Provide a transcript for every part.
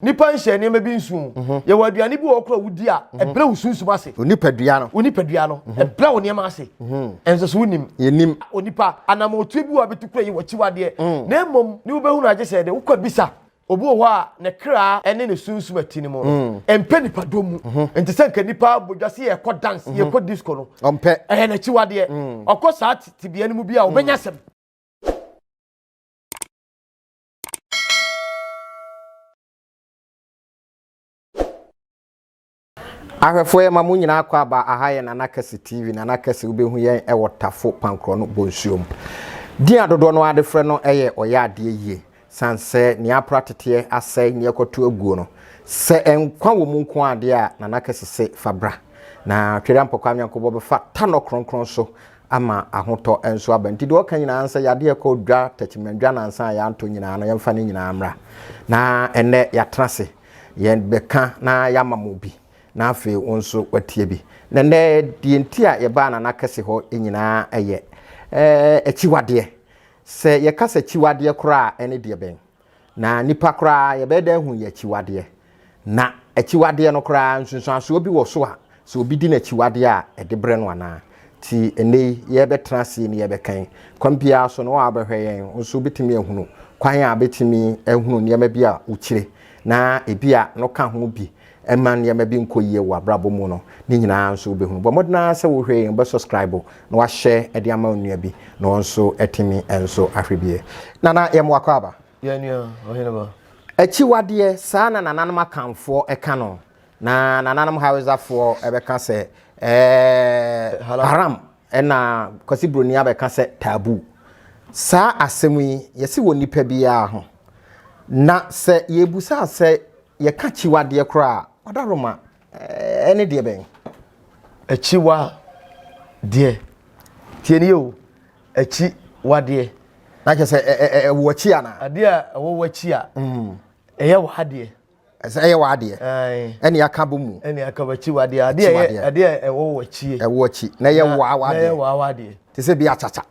Nnipa nhyɛ nneɛma bi nsow. Yɛwɔ aduane bi wɔ hɔ koraa a wudi a, ɛbrɛ wo sunsum ase. Wo nipadua no. Wo nipadua no. Ɛbrɛ wo nneɛma ase. Ɛnsɛ so wonim. Yennim. Onipa, anammɔntuo bi wɔ hɔ a betu kura yi w'akyiwadeɛ, na mmom ne wobɛhu no agye sɛ de wokɔ abisa. Obi wɔ hɔ a, ne kra ne ne sunsum a ɛte ne mu no, ɛmpɛ nnipadɔm mu. Ɛnte sɛ anka nnipa bɔ dwa sɛ yɛrekɔ dance, yɛrekɔ disco no. Ɔmpɛ. Ɛyɛ n'akyiwadeɛ. Ɔkɔ saa tebea no mu bi a, ɔbɛnya asɛm. Ahwɛfoɔ yɛma mo nyinaa kɔ aba aha yɛ Nana Kɛse TV Nana Kɛse wobɛhu yɛn ɛwɔ Tafo Pankorɔ no Bonsuo mu Din a dodoɔ no ara de frɛ no ɛyɛ Ɔyɛ adeɛ yie San sɛ nea apra teteɛ asɛe nea ɛkɔto aguo no Sɛ nkwa wɔ mu nko ara deɛ a Nana Kɛse se fa bra Na Twere Ampɔkɔ Anweankobɔ bɛfa Tanɔ Kronkron so ama ahotɔ nso aba. Nti deɛ ɔka nyinaa sɛ yadeɛ kɔ dwa tɛkyemɛndwa nansa a yɛantɔ nyinaa no yɛmfa ne nyinaa mmra na ɛnɛ yɛatena ase yɛbɛka na yɛama mo bi na afei wo nso watie bi na nnɛ deɛ nti a yɛbaa nana kɛse hɔ nyinaa ɛyɛ akyiwadeɛ sɛ yɛka sɛ akyiwadeɛ koraa ɛne deɛ bɛn Na nnipa koraa, yɛbɛyɛ dɛ ahu yɛ akyiwadeɛ. Na akyiwadeɛ no koraa, nsunsuansoɔ bi wɔ so a, sɛ obi di n'akyiwadeɛ a, ɛde brɛ no anaa? Nti ɛnnɛ yi, yɛrebɛtena aseɛ ni yɛrebɛkan. Kwan biara so no, wo a wobɛhwɛ yɛn nso wobɛtumi ahunu kwan a wobɛtumi ahunu nneɛma bi a wokyire, na ebia no ka ho bi. Ɛma nneɛma bi nkɔ yie wɔ w'abrabɔ mu no, ne nyinaa nso wobɛhunu. Bɔ mmɔden ara sɛ wohwɛ yei, wobɛsɔskraibo na woahyɛ de ama wo nua bi na ɔno nso atumi nso ahwɛ bi. Nana, yɛmmoa kɔ aba. Yɛn nua Ɔheneba. Akyiwadeɛ, saa na nananom Akanfoɔ ka no, na nananom Hausafoɔ bɛka sɛ ɛɛ haram, ɛna Kwasi Broni abɛka sɛ taboo. Saa asɛm yi, yɛse wɔ nnipa biara ho. Na sɛ yɛbusa sɛ Yɛka akyiwadeɛ koraa a, ɔdaroma ɛne deɛ bɛn? Akyiwadeɛ. Tie nie o, akyiwadeɛ. Na kyerɛ sɛ ɛwɔ akyi ana? Adeɛ a ɛwɔ w'akyi a mm. ɛyɛ w'adeɛ. Ɛsɛ ɛyɛ w'adeɛ. Ɛne aka bɔ mu. Ɛne aka bɔ akyiwadeɛ. Adeɛ ɛyɛ adeɛ a ɛwɔ w'akyi. Ɛwɔ akyi. Na ɛyɛ w'awadeɛ. Na ɛyɛ w'awadeɛ. Te sɛ bi akyakya.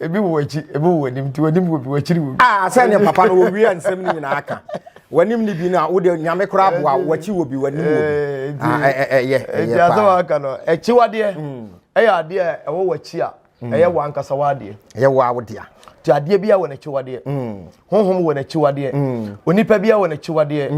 Ebi wɔ w'akyi, ebi wɔ w'anim, nti w'anim wɔ bi, w'akyiri wɔ bi. Ah, sɛ ne papa no wɔwia nsɛm no nyinaa ka. W'anim ne bi no a, wode nyame koraa boa, w'akyi wɔ bi, w'anim wɔ bi. Ah, ɛyɛ, ɛyɛ paa. Nti asɛm a aka no, akyiwadeɛ mm. ɛyɛ adeɛ a ɛwɔ w'akyi a, mm. ɛyɛ w'ankasa w'adeɛ. Ɛyɛ wɔ awodea. Nti adeɛ bi a wɔ n'akyiwadeɛ. Mm. Honhom wɔ n'akyiwadeɛ. Onipa bi a wɔ n'akyiwadeɛ.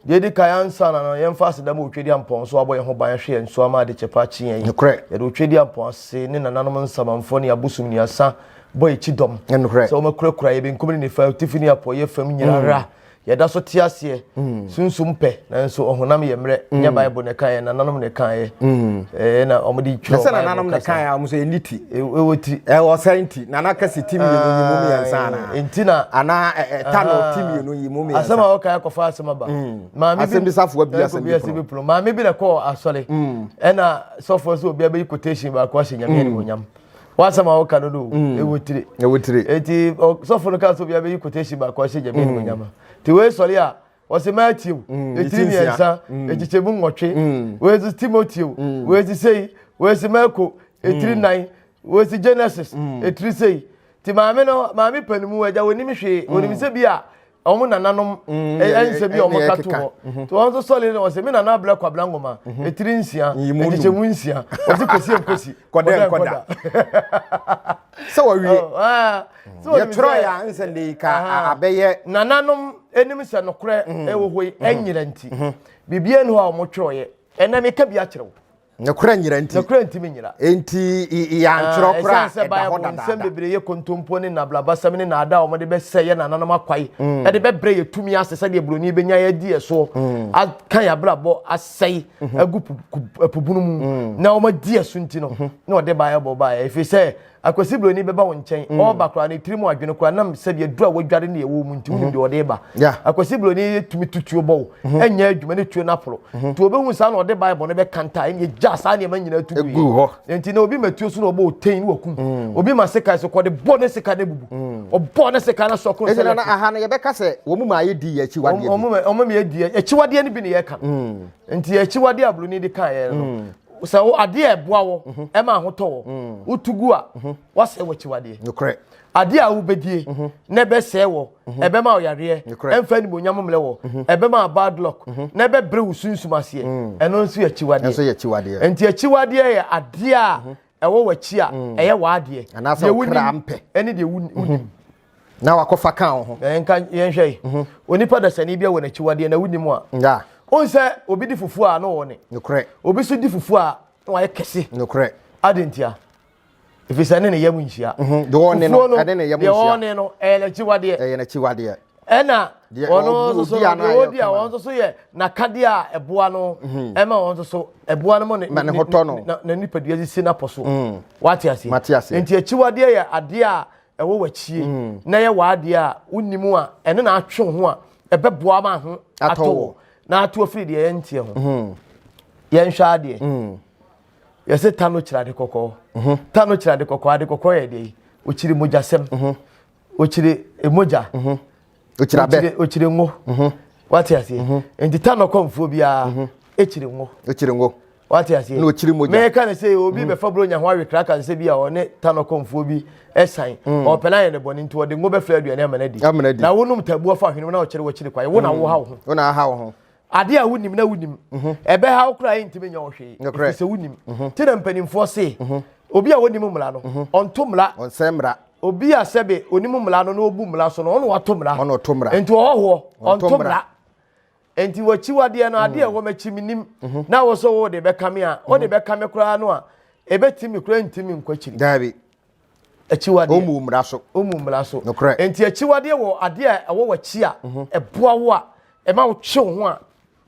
Deɛ ɛdi kan, ansa na no yɛmfa aseda ma Otwedeɛ Ampɔn nso abɔ yɛn ho ban ahwɛ yɛn nso ama ade kyɛ paa kye yɛn yi. Nokorɛ. Yɛde Otwedeɛ Ampɔn ase ne nananom nsamanfoɔ ne abosom nnuasa bɔ yɛn ti dɔm Nokorɛ. sɛ wɔakurakura yɛn benkum ne nifa, atifi ne apueɛ fam nyinara. Yɛda so te aseɛ, sunsum pɛ, nanso ɔhonam yɛ mmerɛ. Nyɛ Bible na ɛkaeɛ, nananom na ɛkaeɛ. Ɛɛ na wɔde twerɛ Bible kasa. Sɛ nananom na ɛkaeɛ a, wɔn nso ɛnni ti. Ɛwɔ ti. Ɛwɔ ɔsɛe nti. na na kɛse ti mmienu yi mu mmiɛnsa anaa nti na anaa ɛta no ti mmienu yi mu mmiɛnsa asɛm a wɔka akɔfa asɛm aba maame bi asɛm bi safo abi asɛm bi asɛm bi pono maame bi na kɔ asɔre ɛna sɔfo so obi abɛyi quotation baako ahyɛ nyame ɛni wɔnyam wasɛm a wɔka no no ɛwɔ tire ɛwɔ tire eti sɔfo no ka so obi abɛyi quotation baako ahyɛ nyame ɛni wɔnyam ti wei sɔre a wɔsi matthew mm, etiri mmiɛnsa mm. ekyekyɛ mu nwɔtwe mm. wɔsi timoteo wɔsi sei wɔsi marco etiri nan wɔsi genesis etiri sei ti maame no maame panimu ɛgya wɔnim hwee wɔnim sɛ bi a wɔn nananom ɛnsɛ bi a wɔn ka to hɔ mhm. to wɔn nso sɔle no wɔsi mi nana abira kwabra ngoma mhm. etiri nsia ekyekyɛ mu nsia wɔsi kosi nkosi kɔdɛ nkɔda sɛ wɔwie. yɛtwerɛ yɛ a nsɛ de yi ka abɛyɛ nananom anim sɛ nokorɛ mm-hmm. ɛwɔ hɔ yi mm-hmm. ɛnyera nti mm-hmm. biribiara ni hɔ a wɔtwerɛeɛ ɛnɛ meka bi akyerɛ wo nokorɛ nyera nti nokorɛ nti me nyera nti yɛantwerɛ ah, koraa ɛda hɔ dadaada nsɛm bebree yɛ kontompo ne nablabasɛm ne naada a wɔde bɛsɛ yɛ nananom akwae mm. ɛde bɛbrɛ yɛ tumi ase sɛdeɛ buroni bɛnya yɛadi yɛ soɔ mm. aka yɛ abrabɔ asɛe agu pubunu mu na wɔadi yɛ so nti no na wɔde baeɛ bɔ baeɛ ɛfiri sɛ Akwasi Broni bɛba wo nkyɛn mm. ɔba koraa ne tiri mu adwene koraa nam sɛbi aduru a wadware ne ɛwɔ mu nti wonim mm-hmm. deɛ ɔde ba Akwasi Broni yɛ tumi tutuo bɔ wo mm-hmm. ɛnyɛ adwuma ne tuo no aporo mm-hmm. nti ɔbɛhu saa na ɔde Bible no bɛka nta ɛne gya saa nneɛma nyinaa tu gu hɔ nti na obi matuo so na ɔbɔ ɔtɛn ne wakum mm. obi ma seka so kɔde bɔ ne seka ne bubu mm. ɔbɔ ne seka na sɔko sɛ ɛna aha no yɛbɛka sɛ wɔn mu ma ayɛ di akyiwadeɛ bi wɔn mu ma yɛ di akyiwadeɛ no bi ne yɛka mm. nti akyiwadeɛ a Broni de kan yɛ no sɛ wo adeɛ a ɛboa wɔ mhm. ɛma ahotɔ wɔ mm. wotu gu a mhm. wasɛe w'akyiwadeɛ nokorɛ adeɛ a wobɛdie mhm. na ɛbɛsɛe wɔ ɛbɛma ɔyareɛ ɛmfa animonyam mmerɛ wɔ ɛbɛma bad luck na ɛbɛbrɛ wo sunsum aseɛ mm. ɛno nso yɛ akyiwadeɛ enti akyiwadeɛ yɛ adeɛ a ɛwɔ w'akyi a ɛyɛ w'adeɛ deɛ wonim ɛne deɛ wonim na wakɔfa ka wo ho. Nka yɛnhwɛ yi. Mhm. Onipa dasani bi wɔ n'akyiwadeɛ na wonim a. Ya. Wohu sɛ obi di fufuo a na ɔwɔ ne. Nokorɛ. Obi nso di fufuo a na wayɛ kɛse. Nokorɛ. Ade ntia. Ɛfiri sɛ ne ne yam nhyia. Mhm. Deɛ ɔne no ɛne ne yam nhyia. Deɛ ɔne no ɛyɛ n'akyiwadeɛ. Ɛyɛ n'akyiwadeɛ. Ɛna ɔno nso so deɛ ɔdi a wɔn nso so yɛ n'akadeɛ a ɛboa no mhm. ɛma wɔn nso so ɛboa no mu ne ne ho tɔ no na nipadua sisi n'apɔ so. Mhm. Wate aseɛ. Mate aseɛ. Nti akyiwadeɛ yɛ adeɛ a ɛwɔ w'akyie mm. na yɛ w'adeɛ a wonim a ɛne na atwe wo ho a ɛbɛboa ma ho atɔ wɔ na ato afiri deɛ yɛnteɛ ho mm. yɛnhwɛ adeɛ mm. yɛsɛ ta no kyerɛ ade kɔkɔɔ mm-hmm. ta no kyerɛ ade kɔkɔɔ ade kɔkɔɔ yɛ deɛ ɔkyiri mogyasɛm mm-hmm. ɔkyiri mogya mm-hmm. ɔkyira bɛ ɔkyire ngo mhm. wate aseɛ mhm. nti ta nɔkɔmfoɔ biara mhm. ɛkyire ngo ɔkyire ngo wate aseɛ na ɔkyiri mogya mɛka ne sɛ obi mm. bɛfa buronya ho awekra ka nsɛ bi a ɔne tanɔkɔmfoɔ bi ɛsan mm. ɔpɛ no ayɛ ne bɔne nti ɔde ngo bɛfrɛ aduane amana di na wonom tabuo fa hwenem na ɔkyere wakyiri kwae wo na mm. woha wo ho wo na aha wo ho Ade a wonim na wonim. Mhm. Ɛbɛha wo koraa yɛntumi nyɛ wo hwee. Ɛfiri sɛ wonim. Mhm. Nti na mpanimfoɔ se, mhm. obi a wɔnim mmara no, ɔnto mmara. Ɔnsɛe mmara. Obi a sɛbe onim mmara no na ɔbu mmara so no, ɔno wato mmara. Ɔno ɔto mmara. Nti ɔhɔhoɔ, ɔnto mmara. Nti wakyiwadeɛ no, adeɛ ɛwɔ m'akyi menim, na wɔ sɛ wode bɛka me a, wode bɛka me koraa no a, ɛbɛtumi koraa ntumi nkɔ akyiri. Daabi. Akyiwadeɛ. Ɔmmu mmara so. Ɔmmu mmara so. Nokorɛ. Enti akyiwadeɛ wɔ adeɛ a ɛwɔ w'akyi a mhm. ɛboa wo a ɛma wotwe wo ho a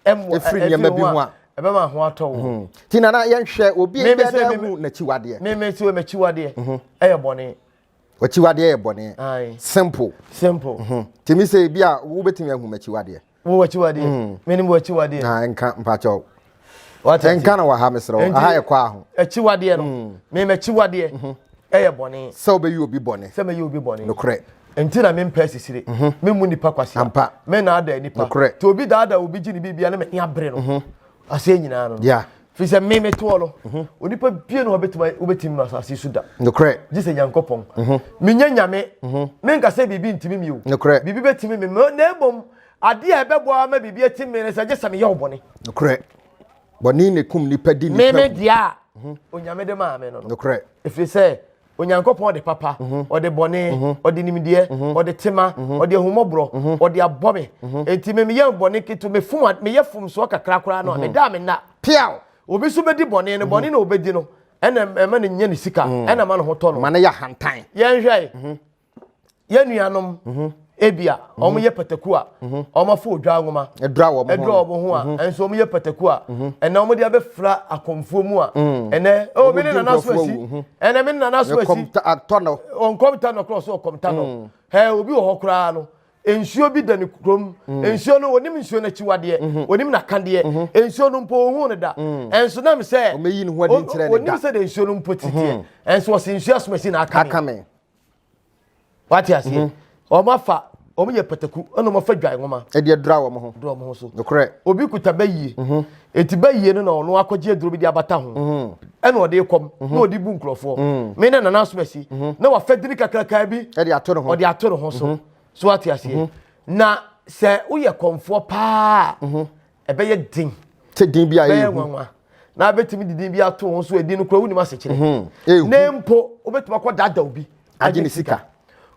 ɛmmoa ɛfiri nneɛma bi ho a ɛbɛma ho atɔ wo. Mhm. Ti nana yɛnhwɛ obi a ɛbɛda ahu n'akyiwadeɛ. Meme sɛ m'akyiwadeɛ mhm. ɛyɛ bɔne. W'akyiwadeɛ yɛ bɔne. Simple. Simple. Timi sɛ ebi a wobɛtumi ahu m'akyiwadeɛ. Wo wakyiwadeɛ. Mm. Menim wakyiwadeɛ. Na nka mpakyɛw. Wate. Nka na wɔ ha mesrɛ wo. Aha yɛ kɔ aho. Akyiwadeɛ no. Mm. Menim akyiwadeɛ. Mhm. Ɛyɛ bɔne. Sɛ wobɛyi obi bɔne. Sɛ mɛyi obi bɔne. Nokorɛ. Nti na mempɛ asisire. Mhm. Memmu nipa kwasea. Ampa. Mennaada nipa. Nokorɛ. Nti obi daada obi gye ne biribia na manya bere no. Mhm. aseɛ nyinaa no yeah. firi sɛ me metoɔ no mhm. onipa bie no wɔbɛtumi wobɛtumi no asase so da nokorɛ gye sɛ nyankopɔn mhm. menyɛ nyame mhm. menka sɛ biribi ntimi mi o nokorɛ biribi bɛtimi me na mmom adeɛ a ɛbɛboa ma biribi atim me no sɛ gye sɛ meyɛ wo bɔne nokorɛ bɔne ne kum nipa di nipa meme deɛ a onyame de maa me no nokorɛ ɛfiri sɛ Onyankopɔn de papa, ɔde bɔne, ɔde nimdeɛ, ɔde tema, ɔde ahummɔborɔ, ɔde abɔ me. Enti me meyɛ bɔne ketewa, mefom, meyɛ fomsoɔ kakra koraa no a, meda a menna. Piaw! Obi nso bɛdi bɔne no, bɔne na ɔbɛdi no ɛna ɛma no nya ne sika, ɛna ɛma ne ho tɔ no. Ma no yɛ ahantan. Yɛnhwɛ. yɛn nuanom mhm. ebi a mhm. wɔn yɛ pataku a mhm. wɔn afɔ odwa nwoma ɛdura wɔn ho a nso wɔn yɛ pataku a ɛnna wɔn de abɛfra akɔmfoɔ mu a ɛnɛ ɛwɔ mi ne nana so asi ɛnɛ mi ne nana so asi ɔnkɔm ta nɔ korɔ so ɔkɔm ta nɔ ɛɛ obi wɔ hɔ koraa no nsuo bi da ne kurom mm. nsuo no onim nsuo no akyiwadeɛ mhm. onim n'akadeɛ mhm. nsuo no mpo ohun no da mm. ɛnso nam sɛ onim sɛ de nsuo no mpo titiɛ mhm. ɛnso ɔsi nsuo asomasi na aka me wate aseɛ mhm. wɔn afa wɔn yɛ pataku ɛna wɔn afa dwan nwoma ɛde adura wɔn ho dura wɔn ho so nokorɛ obi kuta bɛyie mhm. eti bɛyie no na ɔno akɔgye aduro bi de abata ho mhm. ɛna ɔde kɔm na ɔde bu nkurɔfoɔ me ne nana asomasi na wafa diri kakraka bi ɛde ato ne ho ɔde ato ne ho so so wate aseɛ na sɛ woyɛ kɔnfoɔ paa ɛbɛyɛ den sɛ din bi a ɛyɛ nwanwa na abɛtumi de din bi ato ho so ɛdin no kora wonim asekyerɛ hmm. ne mpo wobɛtumi akɔ dada obi agye ne sika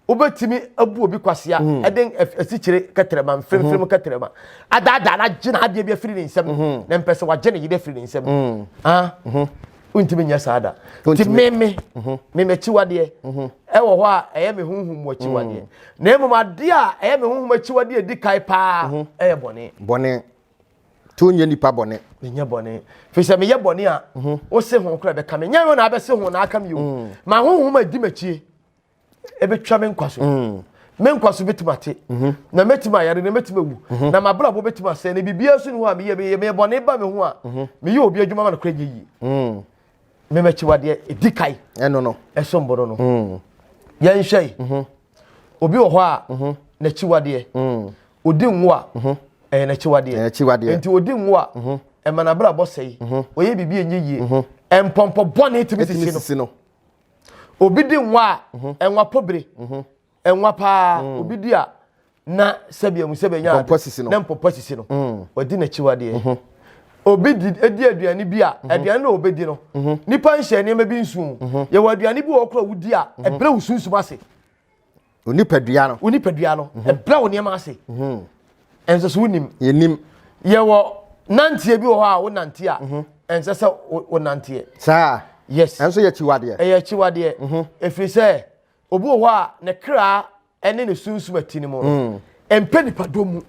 wobɛtumi abu obi kwasea hmm. ɛde asikyire kɛtrɛma mfirifiri mu hmm. kɛtrɛma adaadaa no agye no adeɛ bi afiri ne nsam na mpɛ sɛ wagye ne yere afiri ne nsam ah. wontumi nyɛ saa da nti meme mhm. meme akyiwadeɛ mhm. ɛwɔ hɔ a ɛyɛ me honhom mu akyiwadeɛ mhm. na mmom adeɛ a ɛyɛ me honhom akyiwadeɛ ɛdi kae paa ɛyɛ bɔne bɔne nti wonyɛ nipa bɔne menyɛ bɔne firi sɛ meyɛ bɔne a wose ho kora bɛka me nyɛ wo na abɛse ho na aka me o ma honhom adi makyie ɛbɛtwa me nkwa so mm. me nkwa so bɛtumi ate mm-hmm. na mɛtumi ayare na mɛtumi awu mm-hmm. na mabrabɔ bɛtumi asɛ na biribiara so ne ho a meyɛ meyɛ meyɛ bɔne ba me ho a mm-hmm. meyɛ obi adwuma ma no kora nyɛ yie mm. memɛkyiwadeɛ ɛdi kae ɛno no ɛsom bono no mm. yɛnhwɛ yi obi wɔ hɔ a n'akyiwadeɛ ɔdi nwo a ɛyɛ n'akyiwadeɛ nti ɔdi nwo a ɛma n'abrabɔ sɛe ɔyɛ biribi ɛnyɛ yie mpɔmpɔ bɔne tumi sisi no obi di nwa a mhm. nwa pobere mhm. nwa paa mm. obi di a na sɛbi emu sɛbi enya ade na mpɔpɔ sisi no mm. wadi n'akyi wadeɛ mhm. obi di edi aduane bi a aduane na obi di no nipa nhyɛ nneɛma bi nsu yɛwɔ aduane bi wɔ kora wodi a ɛbrɛ wo sunsum ase. Wo nipadua no. Wo nipadua no. Mhm. Ɛbrɛ wo nneɛma ase. Mhm. Ɛnsɛ sɛ wonim. Yɛnim. Yɛwɔ nanteɛ bi wɔ hɔ a wo nanteɛ a. Mhm. Ɛnsɛ sɛ wo nanteɛ. Saa. Yes. Ɛnso yɛ akyiwadeɛ. Ɛyɛ akyiwadeɛ. Ɛfiri sɛ obi wɔ hɔ a ne kra ɛne ne sunsum ati no mu no. Mm. Ɛmpɛ nipadɔ mu.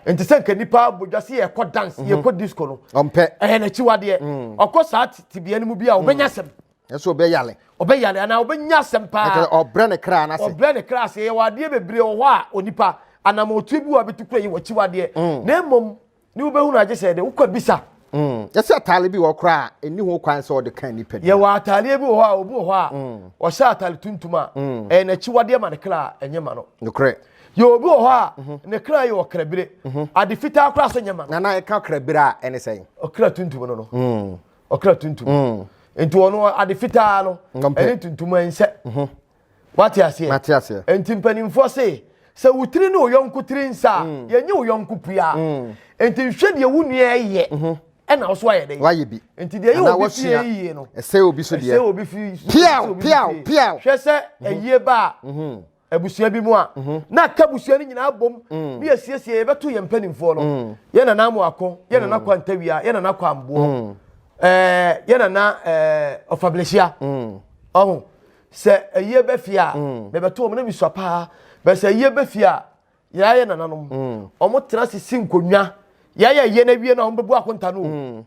nti sɛ nka nipa bodwa se yɛkɔ dance yɛkɔ disco no. Ɔmpɛ. Ɛyɛ n'akyiwadeɛ. Mm. Ɔkɔ saa tibea no mu bi a ɔbɛnya sɛm. ɛsɛ ɔbɛyare ɔbɛyare anaa ɔbɛnya asɛm paa ɛkyɛ ɔbrɛ ne kra n'ase ɔbrɛ ne kra ase yɛwɔ adeɛ bebree wɔ hɔ a onipa anam otuo bi wɔ a bɛtu kura yi wɔkyi wadeɛ mm. na mmom ne wobɛhunu agye sɛ de wokɔ bisa mm. yɛsɛ ataale bi wɔ kora a ɛni ho kwan sɛ ɔde ka nnipa bi yɛwɔ ataaleɛ bi wɔ hɔ a obi wɔ hɔ a mm. ɔhyɛ ataale tuntum a ɛyɛ n'akyi wadeɛ ma ne kra a ɛnyɛ ma no nokorɛ yɛ obi wɔ hɔ a mhm. ne kra yɛ ɔkrabire mhm. ade fitaa kora so nyɛ ma no nana ɛka krabire a ɛne sɛn ɔkra tuntum no no ɔkra tuntum mm. nti ɔno ade fitaa no ɛne tuntum ɛnsɛ mhm. wate aseɛ nti mpanimfoɔ se sɛ wo tiri ne wo yɔnko tiri nsa a mm. yɛnyɛ wo yɔnko pua mm. nti nhwɛ deɛ wo nua ɛyɛ mhm. ɛna ɔso ayɛ dɛ wayɛ bi nti deɛ yɛ obi fie yie no ɛsɛ obi so deɛ ɛsɛ obi fie piaw piaw piaw hwɛ sɛ ɛyie mhm. ba a abusua bi mu a na aka abusua no nyinaa bom ne yɛsiesie yɛbɛto yɛn mpanimfoɔ no yɛ nana amoako yɛ nana kɔ antawia yɛ nana kɔ amboɔ yɛ nana ɔfablehyia ɔho sɛ ayie bɛfie a mebɛto wɔn na mesua paa bɛ sɛ ayie bɛfie a yɛayɛ nananom wɔn tena sisi nkonnwa yɛayɛ yɛ no awie no a wɔn bɛbu akonta no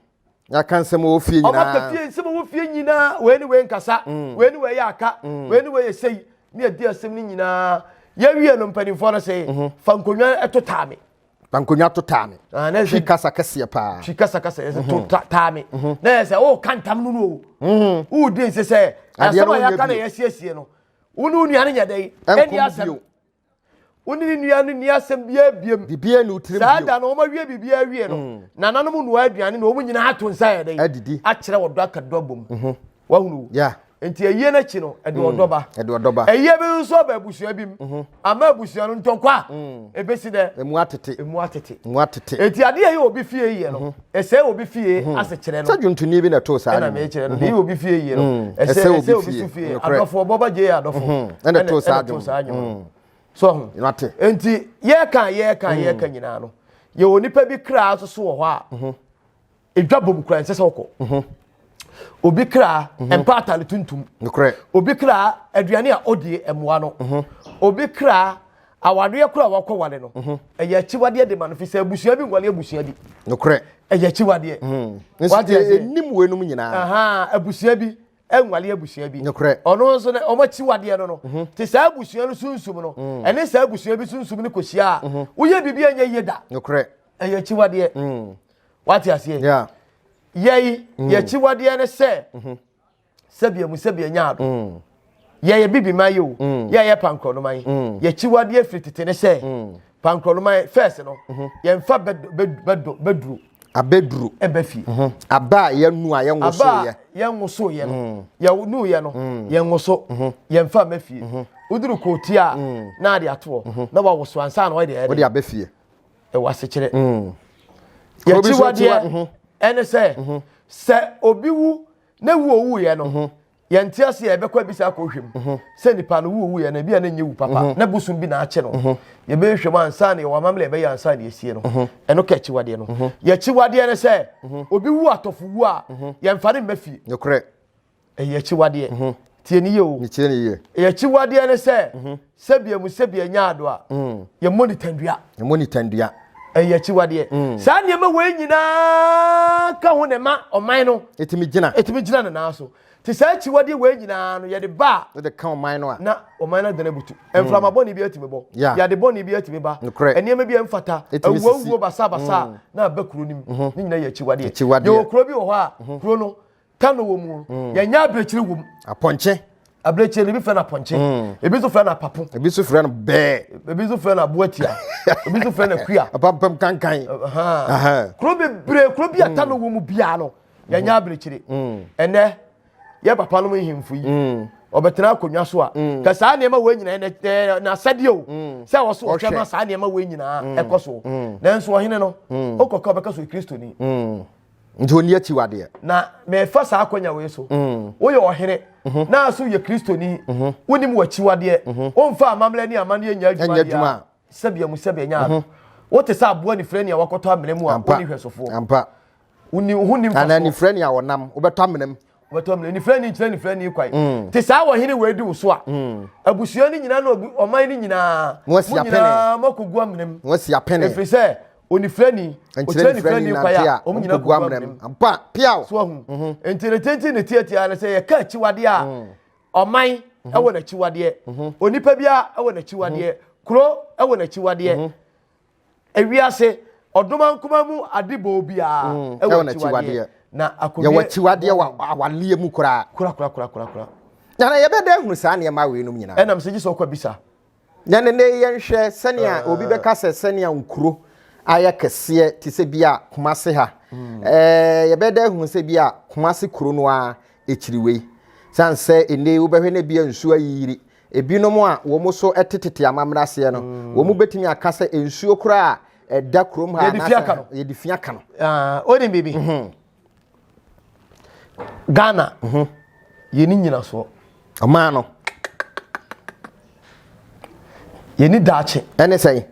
yɛaka nsɛm wɔ fie nyinaa ɔma ka fie nsɛm wɔ fie nyinaa wei ne wei nkasa mm. wei ne wei yɛ aka mm. wei ne wei yɛ sei ne yɛdi asɛm no nyinaa yɛwie no mpanimfoɔ no sɛ mhm. fa nkonnwa ɛto taa me fa nkonnwa to taa me ah, twi kasa kɛseɛ paa twi kasa kasa yɛ sɛ to mhm. taa me mhm. na yɛ sɛ woka ntam no no o wodi nse sɛ asɛm a yɛaka na yɛasiesie no wo ne wo nua no nyɛ dɛn ɛnni asɛm Wo ne ne nua no nni asɛm biara biam. Biribiara nni wo tirim bio. Saa da no, wɔawie biribiara awie no, mm. nananom nnoa aduane na wɔn nyinaa ato nsa yɛ dɛn? Adidi. Akyerɛ wɔdɔ aka dɔ abom. Mhm. Wahunu. Yeah. Nti ayie no akyi no, ɛde ɔdɔ ba. Mm. Ɛde ɔdɔ ba. Ayie bi nso aba abusua bi mu. Mhm. Ama abusua no ntɔkwa. Mm. Ebesi dɛ. Emu atete. Emu atete. Emu atete. Eti adeɛ yɛ obi fie yɛ no. Mhm. Ɛsɛ wɔ obi fie hmm. ase kyerɛ no. Sɛ dwontonii bi na ɛtoo saa ne mu. Ɛna meyɛ kyerɛ no. Deɛ obi fie yie no. Hmm. Ɛsɛ obi so fie. Adɔfo ɔbɔ ba gyee adɔfo. Hmm. Ɛna ɛtoo saa dwom. So ho. Nate. Nti yɛka yɛka yɛka nyinaa no. Yɛwɔ nipa bi kra so so wɔ hɔ a. Edwa bom kura nsɛ sɛ ɔkɔ. obi kra mhm. mpa atare tuntum obi kra aduane a ɔdie mmoa no mhm. obi kra awareɛ koro a wakɔ wale no mhm. ɛyɛ akyiwadeɛ de ma no fi sɛ abusua bi nwale abusua bi nokorɛ ɛyɛ akyiwadeɛ ɛnim weinom nyinaa abusua bi nwale abusua bi ɔno nso no ɔma akyiwadeɛ no no te saa abusua no sunsum no mm. ɛne saa abusua bi sunsum no kɔhyia a woyɛ biribi anyɛ yie da ɛyɛ akyiwadeɛ mm. Wate aseɛ? Yeah. Yɛi, mm. yɛkyiwadeɛ ne sɛ, mm-hmm. sɛbia mu sɛbia nya ado. Mm. Yɛyɛ bibi ma yi o, mm. yɛyɛ pankorɔnoma yi. Mm. Yɛkyiwadeɛ firi tete ne sɛ, mm. pankorɔnoma yi, first no, mm-hmm. yɛmfa bɛduro. abɛduro ɛbɛ fie mhm. aba a yɛnu a yɛnwo so yɛ aba a yɛnwo so yɛ no mm. yɛnu yɛ no mm. yɛnwo so mhm. yɛnfa mɛ fie mhm. woduru kootia a na ade atoɔ na wawoso ansa na ɔde ɛde ɔde abɛ fie ɛwɔ asekyerɛ mm. yɛkyiwadeɛ mhm. ɛne sɛ mhm. sɛ obi wu na wu owuiɛ no mhm. yɛnte ase yɛ ɛbɛkɔ abisa akɔhwɛ mu sɛ nipa no wu owuiɛ no ebi a na nyɛ wu papa na bosom bi na akye no yɛbɛhwɛ mu ansa na yɛwɔ amammerɛ ɛbɛyɛ ansa na yɛsie no ɛno ka akyiwadeɛ no yɛkyiwadeɛ no sɛ obi wu atɔfo wu a yɛmfa no mma fie Ɛyɛ akyiwadeɛ. Mm-hmm. Tie ne yie o. Metie ne yie. Ɛyɛ akyiwadeɛ ne sɛ, mm-hmm. sɛbi emu sɛbi anya ado a, mm. yɛmmɔ ne tandua. Yɛmmɔ ne tandua. Ɛyɛ akyiwadeɛ. Mm. Saa nneɛma wei nyinaa ka ho na ɛma ɔman no. Ɛtumi gyina. Ɛtumi gyina ne nan so. Te saa akyiwadeɛ wei nyinaa no yɛde ba a. Yɛde ka ɔman no a. Na ɔman no adana butu. Mm. Mframa bɔne bi atumi bɔ. Yade bɔne bi atumi ba. Nokorɛ. Nneɛma bi mfata. Ɛtumi sisi. Awuawuo basabasa mm. na aba kuro no mu. Mm-hmm. Ne nyinaa yɛ akyiwadeɛ. Akyiwadeɛ. Yɛwɔ kuro bi wɔ hɔ a, mm-hmm. kuro no Kano wɔ mu mm. yɛnyɛ abirekyiri wɔ mu. apɔnkye. abirekyiri no ebi fɛ no apɔnkye mm. ebi nso fɛ no apapo. ebi nso fɛ no bɛɛ. ebi nso fɛ no aboatia ebi nso fɛ no akuya. apampam kankan. kuro bebree kuro bi a mm. Kano wɔ mu biara no yɛnyɛ abirekyiri ɛnɛ yɛ papa nom nhemfo yi ɔbɛtena akonnwa so a ka saa nneɛma wɔ nyinaa ɛnɛ n'asɛdeɛ o sɛ ɔso ɔhwɛ no saa nneɛma wɔ nyinaa ɛkɔ so nanso ɔhene no okɔka ɔbɛka so kristoni nti ɔnni akyiwadeɛ. Na merefa saa akwanya wei so. Mm. Woyɛ ɔhene. Mm-hmm. Na aso yɛ Kristoni. Mm-hmm. Wonim w'akyiwadeɛ. Mm-hmm. Womfa amammerɛ ne amanneɛ nya adwuma biara. Sɛbea mu sɛbea nya ado. Wote sɛ aboa nifirɛ nea wakɔtɔ amena mu a wonni hwɛsofoɔ. Ampa. Wonni ho nim fa so. Anaa nifirɛ nea wɔnam wobɛtɔ amena mu. wɔtɔ mmerɛ nifirani nkyerɛ nifirani kwan mm. te saa wɔ hene wɔadi wo so a mm. abusua no nyinaa na ɔman no nyinaa mo nyinaa moakɔgu amenem ɛfiri sɛ onifirani ɔkyerɛ nifirani kwan a ɔmo nyinaa kɔgu amenem so ahu mhm. nti ne tenti ne tiatia no sɛ yɛka akyiwadeɛ a mm. ɔman mhm. ɛwɔ n'akyiwadeɛ mhm. onipa biara ɛwɔ n'akyiwadeɛ kuro ɛwɔ n'akyiwadeɛ Ewiase ɔdomankoma mu ade bɔɔ biara mm, ɛwɔ tiwadeɛ na akodeɛ yɛwɔ tiwadeɛ wɔ awaleɛ mu koraa korakorakorakora na na yɛbɛda ahunu saa nneɛma wei nom nyinaa ɛnam sɛ gye sɛ ɔkɔ bisa na ne ne yɛnhwɛ sɛnea ah. obi bɛka sɛ sɛnea nkuro ayɛ kɛseɛ te sɛ bi a Kumase ha mm. ɛɛ yɛbɛda ahunu sɛ bi a Kumase kuro no a akyiri wei sane sɛ ɛnɛ wobɛhwɛ no bi a nsuo ayiyiri Ebinom a wɔn so te tete amammerɛ aseɛ no, wɔn bɛtumi aka sɛ nsuo koraa a ɛda kurom ha Yɛde fi aka no. yɛde fi aka no. Ah, wonim biribi ghana yɛni nyinasoɔ Ɔmaa no yɛni daakye ɛne sɛn?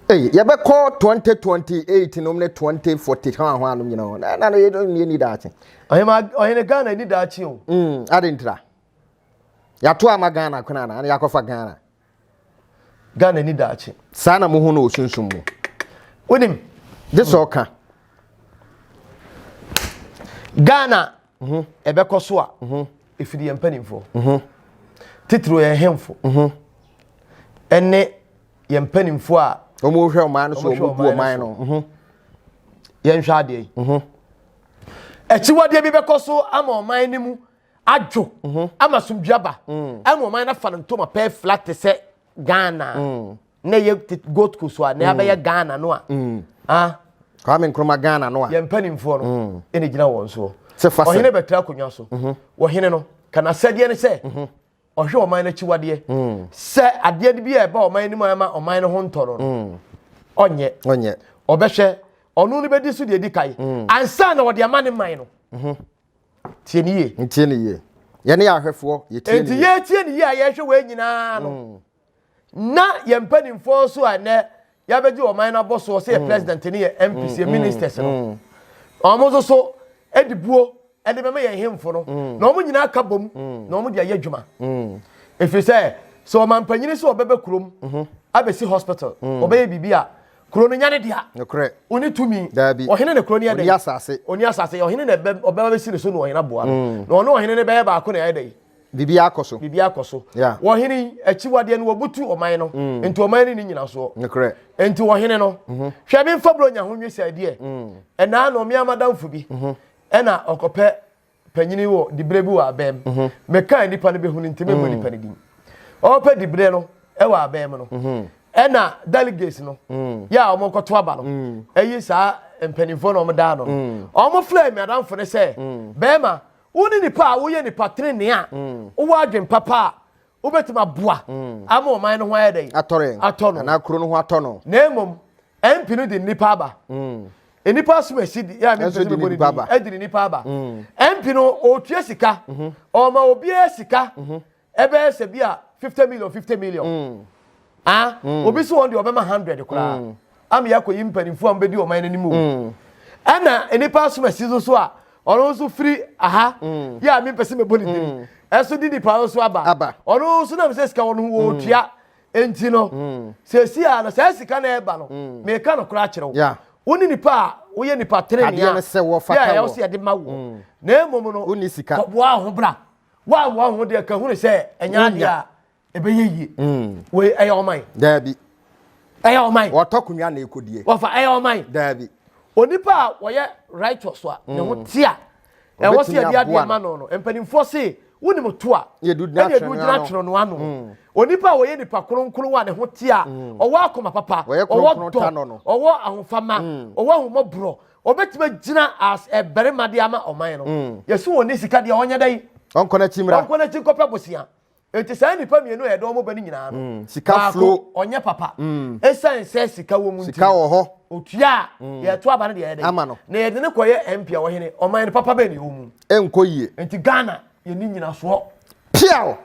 Ei, yɛbɛkɔ 2028 nom ne 2040 ho aho anom nyina hɔ. Na ɛna no yɛni daakye. ɔhema ɔhene ghana ni daakye o Mm, ade ntira. Yɛato ama Ghana kwan anaa na yɛakɔfa Ghana. Ghana ni daakye. Saa na mo ho no osunsum mu. Wonim, gye sɛ ɔka. Ghana mhm. ɛbɛkɔ so a mhm. ɛfiri yɛn mpanimfoɔ. Mhm. Titiriw yɛn hemfo. Ɛne yɛn mpanimfoɔ a wɔhwɛ ɔman no so wɔn bu ɔman no. Yɛnhwɛ adeɛ yi. Akyiwadeɛ bi bɛkɔ so ama ɔman no mu. adwo mhm. ama asomdwe aba mm. ɛna ɔman no afa no ntoma pɛɛ flat te sɛ ghana mm. na ɛyɛ gold coast a na yɛabɛyɛ mm. ghana no a ah. kwame nkrumah ghana no a yɛn mpanimfoɔ no ɛna gyina wɔn soɔ ɔhene bɛtra akonnwa so mhm. wɔhene no kana sɛdeɛ ne sɛ mhm. ɔhwɛ ɔman no akyiwadeɛ sɛ adeɛ bi a ɛba ɔman no mu ama ɔman no ho ntɔ no ɔnyɛ ɔbɛhwɛ ɔno no bɛdi so deɛ ɛdi kae ansa na ɔde ama ne man no tie ne yie ntie ne yie yɛne yɛ ahwɛfoɔ yɛtie ne enti yie yɛtie ne yie a yɛhwɛ wei nyinaa no mm. na yɛn mpanimfoɔ nso a ɛnɛ yɛabɛgye ɔman no abɔ soɔ sɛ yɛ mm. president ne yɛ mps yɛ ministers no wɔn nso so de buo de bɛma yɛn hemfo no na wɔn nyinaa ka bom na wɔn de ayɛ adwuma ɛfiri sɛ sɛ ɔmampanyini sɛ ɔbɛbɛ kurom abɛsi hospital ɔbɛyɛ biribi a Kuro no nyɛ ne dea. Nokorɛ. Ɔni tumi. Daabi. Ɔhene na kuro no yɛ dɛ. Ɔni asase. Ɔni asase. Ɔhene na ɔbɛba bɛsi ne so na ɔhene aboa no. Mm. Na ɔne ɔhene no bɛyɛ baako na ɛyɛ dɛ. Biribi akɔ so. Biribi akɔ so. Yeah. Ɔhene yi, akyiwadeɛ no wɔbutu ɔman no. Mm. Enti ɔman no ni nyinasoɔ. Nokorɛ. Enti ɔhene no, mm -hmm. hwɛ me mfa buronya ho nwi sɛ deɛ, mm. ɛnaa na ɔmea madamfo bi, mm -hmm. ɛna ɔkɔpɛ Panyini wɔ diberɛ bi wɔ abɛn mu. Mekaa nipa no bɛhunu nti memmɔ nipa no din. Ɔrepɛ diberɛ no wɔ abɛn mu no, ɛna delegates no yɛ a wɔkɔto aba no yi saa mpanimfoɔ no wɔda ano no. Wɔfrɛɛ m'adamfo no sɛ, Bɛrima, wo ne nipa a woyɛ nipa trenee a wowɔ adwene papa a wobɛtumi aboa mm. ama ɔman no ho ayɛ dɛn atɔ no anaa kuro no ho atɔ no na mmom mp no de nnipa aba mm. nnipa asom asi yɛ a mempɛ sɛ mebɔ ne din adi ne nnipa aba mp mm. no ɔtua sika mm-hmm. ɔma obiara sika mm-hmm. ɛbɛyɛ sɛ bi a fifty million fifty million Ah, mm. obi so wɔn deɛ ɔbɛma hundred koraa mm. ama yɛakɔyi mpanimfoɔ a wɔbɛdi ɔman no anim o mm. ɛna nnipa asomasi so so a ɔno nso firi aha mm. yɛ a mempɛ sɛ mɛbɔ ne din mm. ɛso de nipa no so aba ɔno nso nam sɛ sika wɔ no ho wɔɔtua nti no sɛsi a no saa sika no ɛba no meka no koraa kyerɛ wo wo ne nipa a woyɛ nipa tenenea yɛ ɛwɔ sɛ yɛde ma wo na mmom no kɔboa ho bra woammoa ho deɛ ka hunu sɛ ɛnyɛ adeɛ a ɛbɛyɛ yie mm. wei ɛyɛ ɔman daabi ɛyɛ ɔman wɔtɔ konwa na ɛkɔdie wɔfa ɛyɛ ɔman daabi onipa a wɔyɛ righteous a ne ho mm. te a ɛwɔ sɛ yɛde adeɛ ma no no mpanimfoɔ se wonim to a ɛne ɛdu gyina twerɛ no ano mm. onipa a wɔyɛ nipa kronkron a ne ho te a mm. ɔwɔ akoma papa ɔwɔ dɔ ɔwɔ ahofama ɔwɔ ahomɔborɔ ɔbɛtumi agyina as ɛbarima de ama ɔman no yɛsi wɔn ne sika deɛ ɔnyɛ dɛ yi ɔnkɔ n'akyi mmra ɔnkɔ n'akyi nkɔpɛ bosia Enti saa nnipa mmienu a yɛde wɔn ba no nyinaa no, mm, sika baako flow. ɔnyɛ papa. Mm. Ɛsiane mm. sɛ sika wɔ mu nti. Sika wɔ hɔ. Otua a mm. yɛto aba no deɛ yɛde. Ama no. Na yɛde no kɔyɛ MP a wɔhene ɔman no papa bɛn ne ɛwɔ mu. Ɛnkɔ yie. Enti Ghana yɛni nyinasoɔ. Piaw.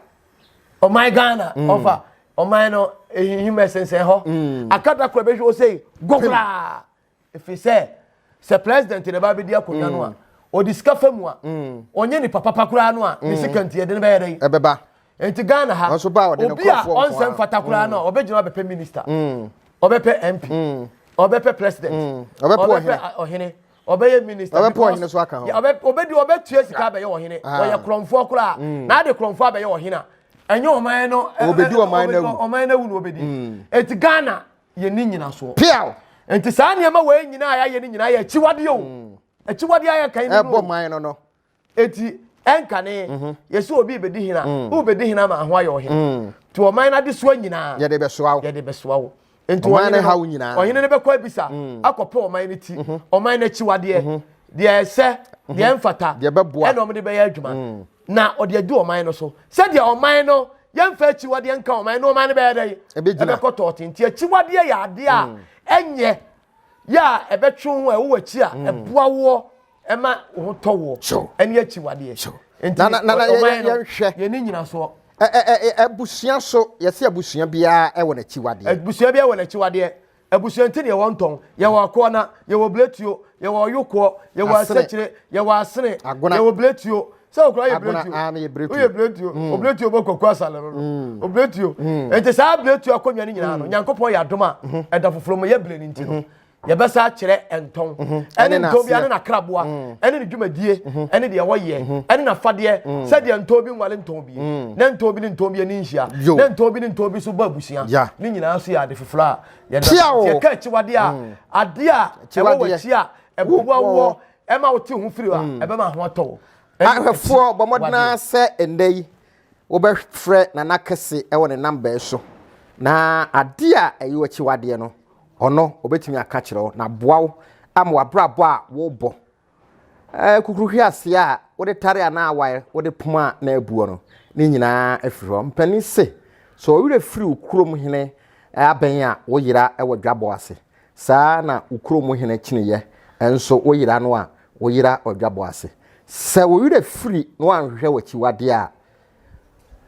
Ɔman Ghana mm. ɔfa ɔman no ehihim ɛsensɛn hɔ. Mm. Akata kora bɛhwɛ ɔsɛ gɔgora. ɛfiri sɛ sɛ president na ɛba abɛdi akonnwa no a mm. ɔde sika fa mu a mm. ɔnyɛ nipa papa koraa no a ne mm. sika nti ɛde no bɛyɛ dɛn ɛbɛba nti ghana ha obi a ɔnsɛ mfata koraa no a ɔbɛgyina ɔbɛpɛ minister ɔbɛpɛ mp ɔbɛpɛ president ɔbɛpɛ ɔhene ɔbɛyɛ minister ɔbɛpɛ ɔhene so aka ho ɔbɛdi ɔbɛtua sika abɛyɛ ɔhene ah. ɔyɛ korɔmfoɔ koraa na ade korɔmfoɔ abɛyɛ ɔhene a ɛnyɛ ɔman no ɔbɛdi ɔman no awu ɔman no awu na ɔbɛdi eti ghana yɛnni nnyinasoɔ. Peaw! Nti saa nneɛma wei nyinaa a yɛayɛ no nyinaa yɛ akyiwadeɛ o. Mm. Akyiwadeɛ a yɛka yi no. Ɛbɔ man no no. Eti ɛnkane mhm. yɛsi obi bɛdi hena mm. wo bɛdi hena ma ho ayɛ ɔhene mm. nti ɔman no adesoa nyinaa yɛde bɛsoa wo yɛde bɛsoa wo nti ɔhene no bɛkɔ abisa mm. akɔpɛ ɔman no ti mhm. ɔman no akyiwadeɛ mhm. deɛ ɛsɛ deɛ ɛmfata ɛna ɔmde bɛyɛ adwuma Na ɔde adu ɔman no so. Sɛdeɛ ɔman no yɛmfa akyiwadeɛ nka ɔman no ɔman no bɛyɛ dɛn? Ɛbɛkɔ tɔɔte. Nti akyiwadeɛ yɛ adeɛ a mm. ɛnyɛ yɛ a ɛbɛtwe ho a ɛwɔ akyi a mm. ɛboa woɔ ɛma wo ho tɔ woɔ ɛne akyiwadeɛ. Nti ɔman no yɛne nyina soɔ. Abusua so yɛsɛ abusua biara ɛwɔ n'akyiwadeɛ. Abusua biara ɛwɔ n'akyiwadeɛ. Abusua nti na yɛwɔ ntɔn, yɛwɔ akoana, yɛwɔ bletuo, yɛwɔ ɔyokoɔ, yɛwɔ asakyire, yɛwɔ asene, yɛwɔ bletuo. Sɛ okura yɛ bletuo, woyɛ bletuo, mm. obletuo bɔ kwaku asale no, mm. obletuo. Mm. Nti saa bletuo akonnwa no nyinaa no, Nyankopɔn yɛ adom a mhm. ɛda foforɔ mu yɛ bere no nti no. Mhm. yɛbɛsa akyerɛ ntɔn mhm. ɛne ntɔn bi ɛne n'akraboa ɛne ne dwumadie ɛne deɛ wɔyɛ ɛne n'afadeɛ sɛdeɛ ntɔn bi nwale ntɔn bi ne ntɔn bi ne ntɔn bi ani nhyia ne ntɔn bi ne ntɔn bi so bɔ abusua ne nyinaa so yɛ ade Fla. Yɛda Kyia o. yɛka akyiwadeɛ a adeɛ a ɛwɔ Akyiwadeɛ. w'akyi a ɛboa Wo- woɔ ɛma wote wo ho firi a ɛbɛma ho atɔ wo. Ɛne Ahwɛfoɔ bɔ mmɔden akyiwadeɛ. ara sɛ ɛnnɛ yi wobɛfrɛ Nana Kɛse wɔ ne namba yi so na adeɛ a ɛyɛ w'akyiwadeɛ no, ɔno ɔbɛtumi aka akyerɛ wo na aboa wo ama w'abrabɔ a worebɔ kukuru hweaseɛ a wode tare anaa awae wode poma a na abuo no ne nyinaa afiri hɔ mpanin se sɛ ɔwerɛ firi wo kurom hene abɛn a woyera wɔ dwabɔ ase saa na wo kurom hene kyeneyɛ nso woyera no a woyera ɔdwabɔ ase sɛ wo werɛ firi na wanhwehwɛ w'akyiwadeɛ a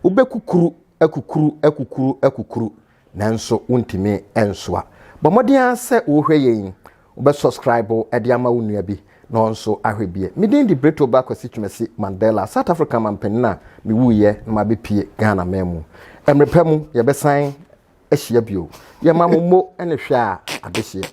Wobɛkukuru, akukuru, akukuru, akukuru, nanso wontumi nsoa. Bɔ mmɔden ara sɛ worehwɛ yɛn yi, wobɛsɔskraibo de ama wo nua bi na ɔno nso ahwɛ bi. Me din de Breto Ba Kwasi Twumasi Mandela, South Africa manpanin a mewuiɛ na mabɛpue Ghana man mu. Mmerɛ pa mu, yɛbɛsan ahyia bio. Yɛma mo mo ne hwɛ a adehyeɛ.